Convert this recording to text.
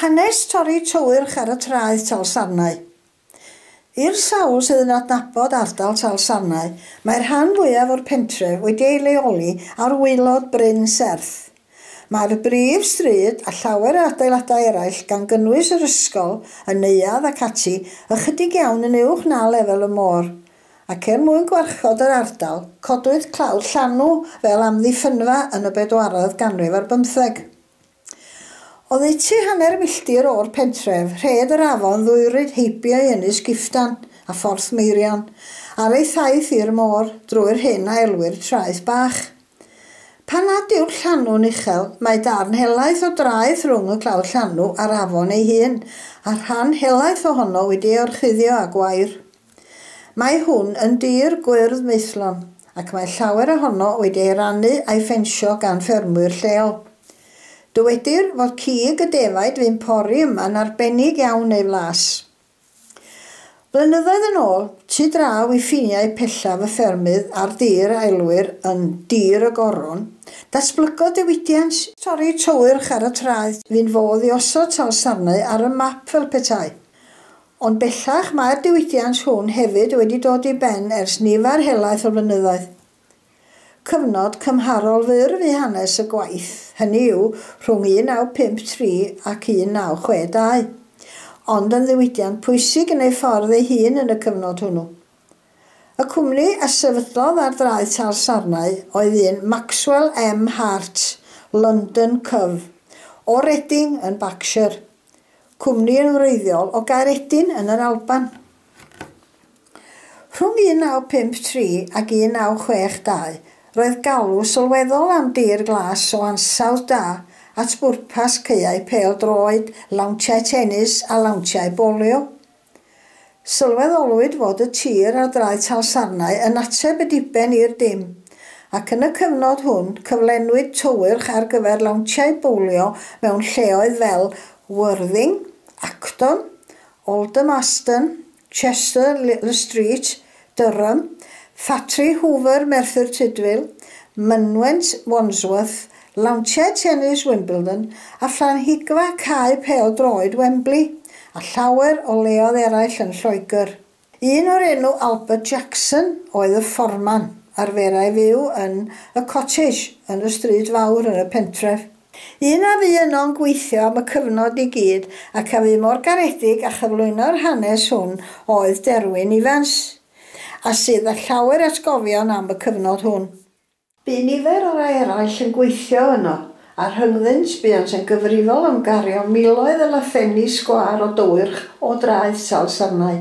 Hanes torri tywyrch ar y traeth Talsarnau. I'r sawl sydd yn adnabod ardal Talsarnau, mae'r rhan fwyaf o'r pentref wedi ei leoli ar waelod bryn serth. Mae'r brif stryd, a llawer o adeiladau eraill, gan gynnwys yr ysgol, y neuadd ac ati, ychydig iawn yn uwch na lefel y môr. ac er mwyn gwarchod yr ardal, codwyd clawr llanw fel amddiffynfa yn y bedwaredd ganrif ar bymtheg. Oddeutu hanner milltir o'r pentref, rhed yr afon ddwyryd heibio i Ynys Giftan a Phorth Meirion, ar ei thaith i'r môr, drwy'r hyn a elwir Traeth Bach. Pan nad yw'r llanw'n uchel, mae darn helaeth o draeth rhwng y clawr llanw a'r afon ei hun, a'r rhan helaeth ohono wedi ei orchuddio â gwair. Mae hwn yn dir gwyrdd maethlon ac mae llawer ohono wedi ei rannu a'i ffensio gan ffermwyr lleol. Dywedir fod cig y defaid fu'n pori yma'n arbennig iawn ei flas. Blynyddoedd yn ôl, tu draw i ffiniau pellaf y ffermydd ar dir a elwir yn 'Dir y Goron', datblygodd diwydiant, torri tywyrch ar y traeth, fu'n fodd i osod salsarnau ar y map fel petai Ond bellach mae'r diwydiant hwn hefyd wedi dod i ben ers nifer helaeth o flynyddoedd. Cyfnod cymharol fyr fu hanes y gwaith, hynny yw, rhwng 1953 ac 1962, ond yn ddiwydiant pwysig yn ei ffordd ei hun yn y cyfnod hwnnw. Y cwmni a sefydlodd ar draeth Tal Sarnau oedd un Maxwell M Hart, London, Cyf. O Reading, yn Berkshire. cwmni yn wreiddiol o Gaeredin yn yr Alban. Rhwng 1953 ac 1962, roedd galw sylweddol am dir glas o ansawdd da at bwrpas caeau pêl-droed, lawntiau tenis a lawntiau bowlio. Sylweddolwyd fod y tir ar draeth Salsarnau yn ateb y diben i'r dim, ac yn y cyfnod hwn cyflenwyd tywyrch ar gyfer lawntiau bowlio mewn lleoedd fel Worthing, Acton, Aldermaston, Chester-le-Street, Durham, Ffatri Hoover Merthyr Tudful, Mynwent Wandsworth, Lawntiau Tennis Wimbledon a Phlanhigfa Cae Pêl Droed Wembley, a llawer o leoedd eraill yn Lloegr. Un o'r enw Albert Jackson oedd y fforman, arferai fyw yn Y Cottage yn y Stryd Fawr yn y pentref. Un a fu yno'n gweithio am y cyfnod i gyd ac a fu mor garedig â chyflwyno'r hanes hwn oedd Derwyn Ifans, a sydd â llawer atgofion am y cyfnod hwn. Bu nifer o rai eraill yn gweithio yno, a rhyngddynt buont yn gyfrifol am gario miloedd o lafenni sgwâr o dywyrch o draeth Salsarnau.